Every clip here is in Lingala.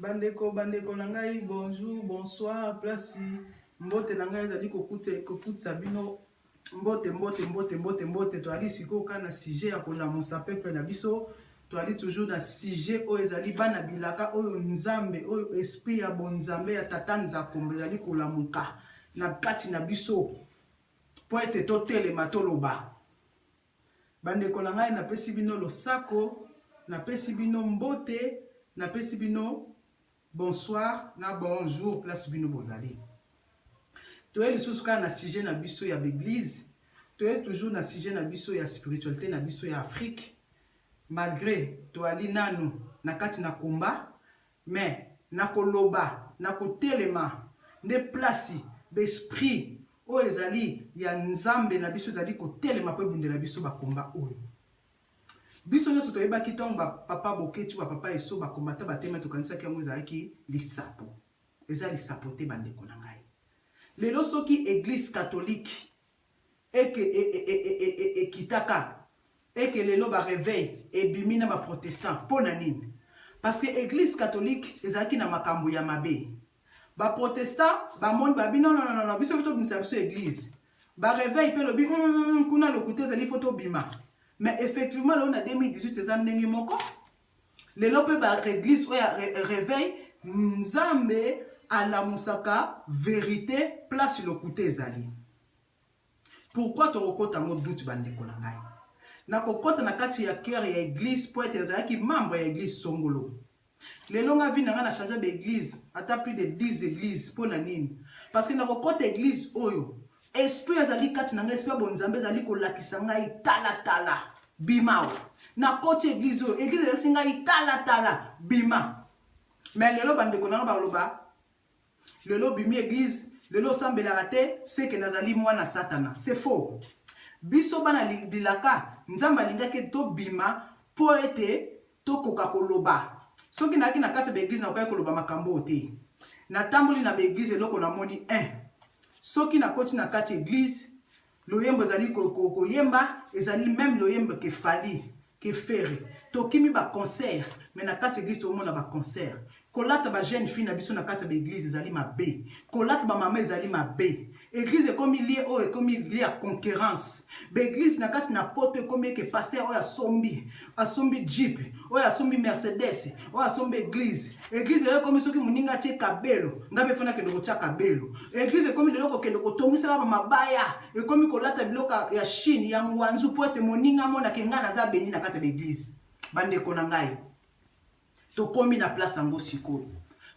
Bandeko bandeko na ngai bonjour bonsoir place mbote na ngai ezali kokutisa bino mbote mbote mbote mbote mbote toyali sikoyo kaka na sujet ya kolamusa peuple na biso toyali toujours na sujet oyo ezali bana bilaka oyo nzambe oyo esprit ya bonzambe ya tata nzakombo ezali kolamuka na kati na biso mpo ete totelema toloba Bandeko na ngai, napesi bino losako, napesi bino mbote, napesi bino bonsoir na bon jour place bino bozali. Toye lisusu kaka na sujet na biso ya b'eglise, toye toujours na sujet na biso ya spiritualite na biso ya Afrique. Malgre toali nanu na kati na combat, Mais na ko loba, na ko telema nde place b'esprit oyo ezali ya Nzambe na biso ezali ko telema po ebundela biso ba combats oyo. Biso nionso toyebaki tango ba papa Boketshu, ba papa Esso ba combattants ba telema to kanisaki yango ezalaki lisapo. Eza lisapo te ba ndeko na ngai. Lelo soki eglise catholique et que ekitaka et que lelo ba reveil ebimi na ba protestant pona nini? Parce que eglise catholique ezalaki na makambu ya mabe ba protestant ba moni ba bi non non non biso faut to bimisa biso eglise ba reveil pe lobi hum kuna lokuta ezali faut to bima mais effectivement lelo na 2018 eza ndenge moko Lelo pe ba reglise oyo ya reveil nzambe alamusaka verite place lokuta ezali pourquoi toko kota ngo doute ba ndeko na ngai nako kota na kati ya coeur ya eglise po ete nazalaki membre ya eglise songolo lelo nga vie na nga na changea ba eglise ata plus de 10 eglise pona nini parce que nako kota eglise oyo Esprit azali kati na ngai, esprit ya bonzambe ezali kolakisa ngai tala tala bima awa. Nakoti eglise oyo, eglise elakisi ngai tala tala bima. Mais lelo bandeko na ngai baloba lelo obimi eglise, lelo osambelaka te, seke nazali mwana satana. C'est faux. Biso bana bilaka, Nzambe alingaki tobima mpo ete Tokoka koloba, Soki nayaki na kati ya ba eglise nakokaki koloba makambo oyo te. Natamboli na ba eglise eloko namoni un, soki nakoti na kati eglise loyembo ezali koyemba ezali meme loyembo ke Fally, ke Ferre. Tokimi ba concert mais na kati eglise tozomona ba concert. Kolata ba jeune fille na biso na kati ya ba eglise ezali mabe. Kolata ba mama ezali mabe. Eglise ekomi lieu oyo ekomi lieu ya conquerance. Ba eglise na kati na poto ekomi eke pasteur oyo asombi, asombi jeep, oyo asombi mercedes, oyo asombi eglise. Eglise lelo ekomi soki moninga atie kabelo, nga pe faut nakende kotia kabelo. Eglise ekomi lelo kokende kotongisa kaka ba mabaya, ekomi kolata biloko ya chine, ya ngwanzu po ete moninga amona ke nga naza beni na kati ya ba eglise. Ba ndeko na ngai. Tokomi na place yango sikoyo.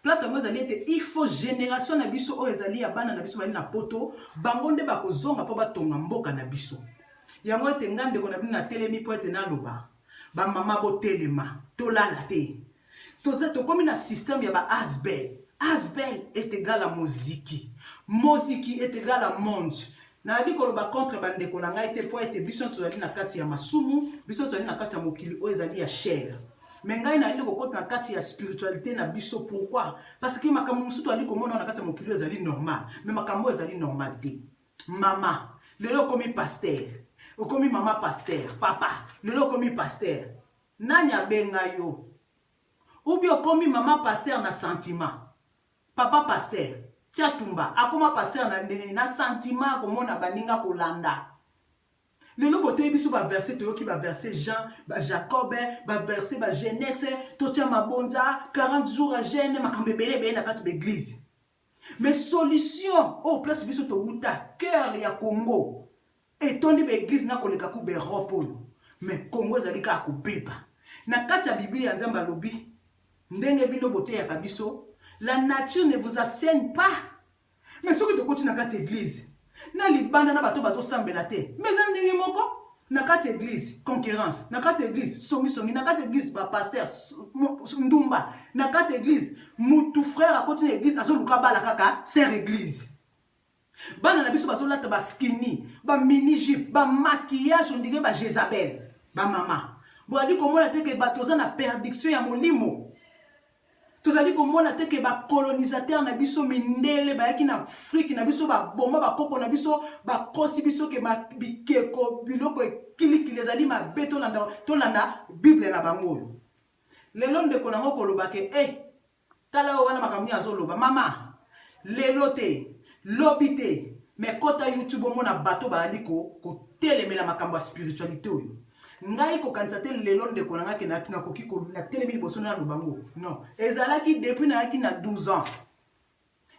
Place yango ezali ete il faut generation na biso oyo ezali ya bana na biso bazali na poto, bango nde bakozonga mpo batonga mboka na biso. Yango ete ngai ndeko na bino natelemi mpo ete naloba, ba mama botelema, tolala te. Toza, tokomi na système ya ba asbl. Asbl est egal à moziki. Moziki est egal à monde. Nayali koloba contre bandeko na ngai te, mpo ete biso nyonso tozali na kati ya masumu, biso nyonso tozali na kati ya mokili oyo ezali ya chair. Mais ngai nayali kokota na kati ya spiritualite na biso. Pourquoi? Parce que makambo mosusu toyali komona oyo na kati ya mokili oyo ezali normal, mais makambo oyo ezali normal te. Mama, lelo okomi pasteur, okomi mama pasteur. Papa, lelo okomi pasteur. Nani abenga yo? Ou bien okomi mama pasteur na sentiment. Papa pasteur tshatumba akoma pasteur na ndenge nini na sentiment ya komona baninga kolanda lelo boteyi biso ba verse toyoki ba verse jean ba jacob ba verse ba genese totia mabonza 40 jours ya jeune makambo ebele ebele na kati ba eglise mais solution oyo oh, place biso towuta cœur ya congo Etondi ba eglises nako leka kuba Europe oyo mais Congo ezali kaka ko beba. Na kati ya biblia Nzambe alobi ndenge bino bo teyaka biso la nature ne vous asseigne pas mais soki to koti na kati eglise na libanda na bato bazo sambela te mais eza ndenge moko na kati eglise conquerance na kati eglise songi songi na kati eglise ba pasteur ndumba na kati eglise mutu frère akoti na eglise azo luka bala kaka sœur eglise Bana na biso bazo lata ba skinny, ba mini jupe, ba maquillage on dirait ba Jezabel. Ba mama, boali komona te ke bato toza na perdiction ya molimo? Tozali komona te ke ba colonisateurs na biso mindele bayaki na Afrique na biso ba boma ba koko na biso, ba kosi biso ke ba bikeko biloko e kili kili ezali mabe tolanda tolanda bible na bango oyo? Lelo ndeko na nga okoloba ke eh Tala oyo wana makambo nini azo loba mama lelo te lobi te mais kota youtube omona bato baali ko kotelemela makambo ya spiritualite oyo ngai kokanisa te lelo ndeko na ngai ke nakoki natelemi liboso na loba ngo non ezalaki depuis nayaki na 12 ans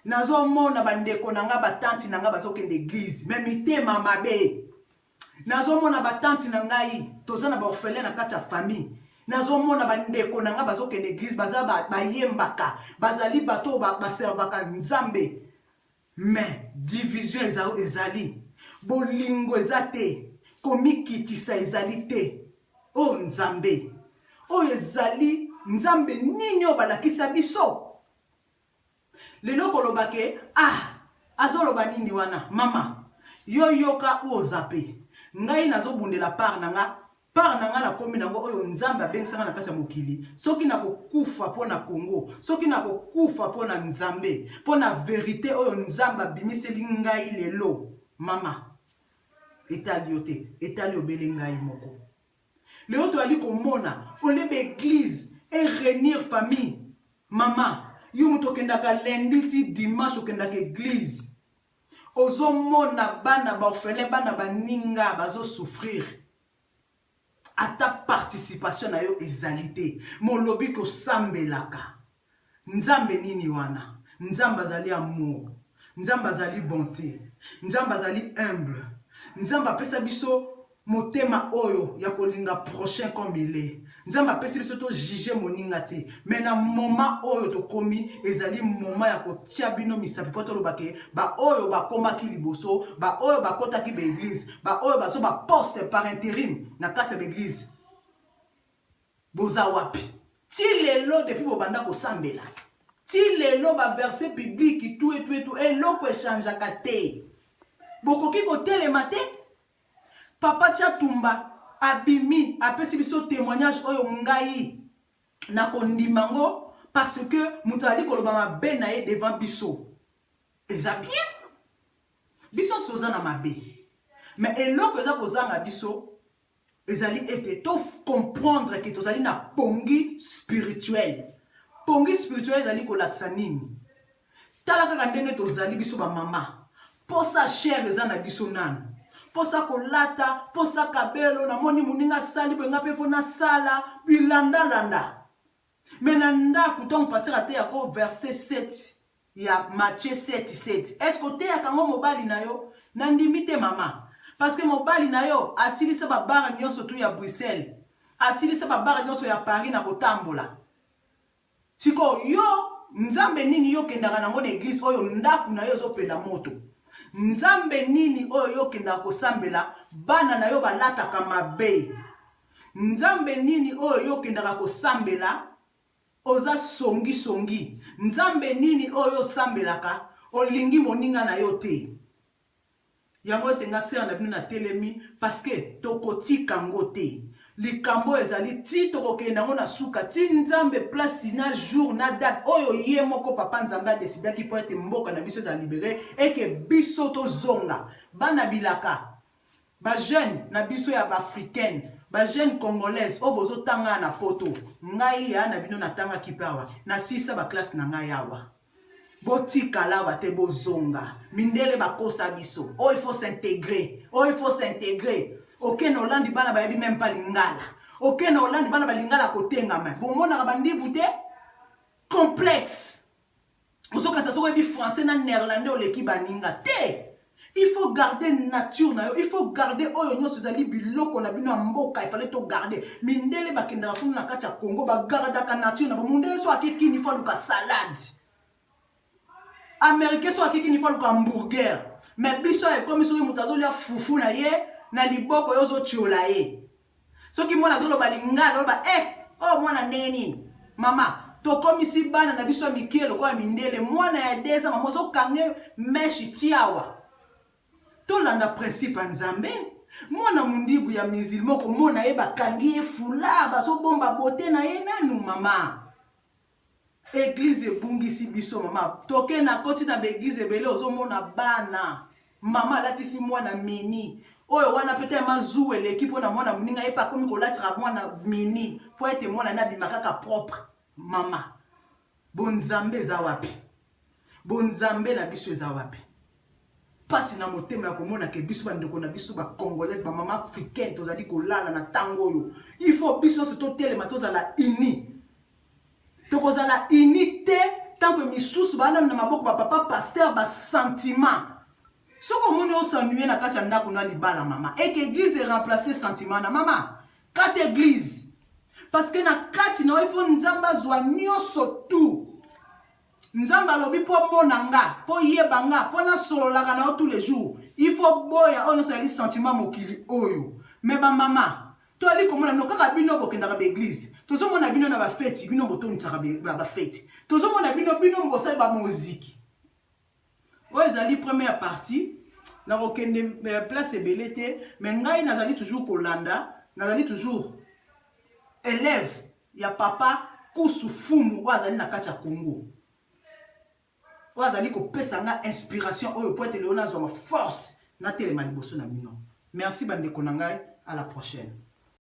nazomona bandeko na ngai batanti na ngai bazokende eglize me mitema mabe nazomona batante na ngai toza na baorphelin na kati ya famille nazomona bandeko na ngai bazokende eglise baza bayembaka bazali bato oyo baservaka nzambe mais division ezali bolingo eza te komikitisa ezali te o oh, nzambe oyo ezali nzambe nini oyo balakisa biso Lelo koloba ke ah azoloba nini wana mama yo yoka ou ozappe ngai nazo bundela part na nga part na nga nakomi na ngo oyo nzambe abengisa nga na kati ya mokili soki nako kufa pona congo soki nako kufa pona nzambe pona verite oyo nzambe abimiseli ngai lelo mama etali yo te etali obele ngai moko. Lelo tozali komona au lieu ba eglise e reunir famille maman yo mutu okendaka lundi ti dimanche okendaka eglise ozo mona bana ba orphelin bana baninga bazo souffrir ata participation na yo ezali te mais olobi que osambelaka Nzambe nini wana? Nzambe azali amour, Nzambe azali bonte, Nzambe azali humble, Nzambe apesa biso motema oyo ya kolinga prochain comme il est, Nzambe apesi biso to juger moninga te, mais na moment oyo tokomi ezali moment ya kotia bino misapi po toloba ke ba oyo bakomaki liboso, ba oyo bakotaki ba eglise, ba oyo bazua ba poste par interim na kati ya ba eglise, Boza wapi? Ti lelo depuis bobanda kosambela ti lelo ba verse biblique tuetuetu eloko echangeaka te. Bokoki kotelema te? Papa Tshatumba abimi apesi biso temoignage oyo ngai nakondima ngo parce que moto azali koloba mabe na ye devant biso eza bien biso nso oza na mabe mais eloko eza kozanga biso ezali ete to comprendre ke tozali na pongi spirituel pongi spirituel ezali kolakisa nini tala kaka ndenge tozali biso bamama posa chere eza na biso nanu posa kolata posa kabelo namoni moninga asali boye nga mpe fo nasala bilandalanda Mais na ndaku tango pasteur ateya ko verse 7 ya Matthieu 7 7 est ce que oteyaka yango mobali na yo? Na ndimi te mama parce que mobali na yo asilisa ba bar nionso tout ya Bruxelles asilisa ba bar nionso ya Paris na kotambola sikoyo yo nzambe nini yo okendaka na yango na eglise oyo ndaku na yo ezo pela moto nzambe nini oyo yo okendaka kosambela bana na yo balataka mabe Nzambe nini oyo yo okendaka kosambela oza songi songi nzambe nini oyo yo osambelaka olingi moninga na yo te yango ete nga sere na bino na telemi paske tokotika ngo te likambo ezali ti tokokende yango na suka ti nzambe place na jour na date oyo ye moko papa nzambe adesidaki mpo ete mboka na biso ezala libere eke biso tozonga bana bilaka Ba jeune na biso ya b'africaine ba jeune congolaise oyo bozo tanga awa na poto ngai yaya na bino na tanga kipe awa na sisa ba classe na ngai awa botikala awa te bozonga mindele ba kosa biso oyo il faut s'integre oyo il faut s'integre oke na olandi bana bayebi meme pas lingala oke na olandi bana ba lingala kotengama bomonaka ba ndibu te complexe ozokanisa soki oyebi français na néerlandais oleki baninga te il faut garder nature na yo il faut garder oyo nyonso ezali biloko na bino ya mboka efale to garder mindele bakendaka kuna na kati ya congo bagardaka nature na bango mondele so ake kini fo aluka salade américain so ake kini fo aluka hamburger me biso ekomi soki moto azolia fufu na ye na liboko yo ozotiola ye Soki mwana azoloba lingala oloba eh oyo mwana ndenge nini mama tokomisi bana na biso ya mikie lokola mindele mwana ya deza mama ozokange meshe tiawa tolanda principe ya nzambe mwana mondibu ya musilma okomona ye bakangi ye fula bazobomba bote na ye nanu mama Eglise ebungisi biso mama toke na koti na ba eglise ebele ozomona bana mama alatisi mwana mini oyo wana peut être mazu eleki mpo na mwana moninga ye mpe akomi kolatira mwana mini mpo ete mwana ne abima kaka propre mama bonzambe eza wapi bonzambe na biso eza wapi mpasi na motema ya komona ke biso bandeko na biso bacongolaise bamama africaine tozali kolala na ntango oyo il faut biso nyonso totelema tozala unis Tokozala unis te tant que misusu ba nanu na maboko ba papa pasteur ba sentiment. Soki omoni o s'ennuyer na kati ya ndaku na libala mama et que eglise e remplacer sentiment na mama kata eglise parce que na kati na yo il faut nzambe azua nionso tout. Nzambe alobi po omona nga, po oyeba nga, po nasololaka na yo tous les jours. Il faut oboya oyo nionso ezali sentiment ya mokili oyo. Mais ba mama, toali komona bino kaka bino bokendaka ba eglise. Tozomona bino na ba feti, bino botondisaka ba feti. Tozomona bino, bino bosali ba moziki. Oyo ezali première partie. Nakokende place ebele te, mais ngai nazali toujours kolanda, nazali toujours elève. ya papa kusu fumu oyo azali na kati ya congo oyo azali kopesa nga inspiration oyo po ete lelo nazwa ba force natelema liboso na bino merci bandeko na ngai à la prochaine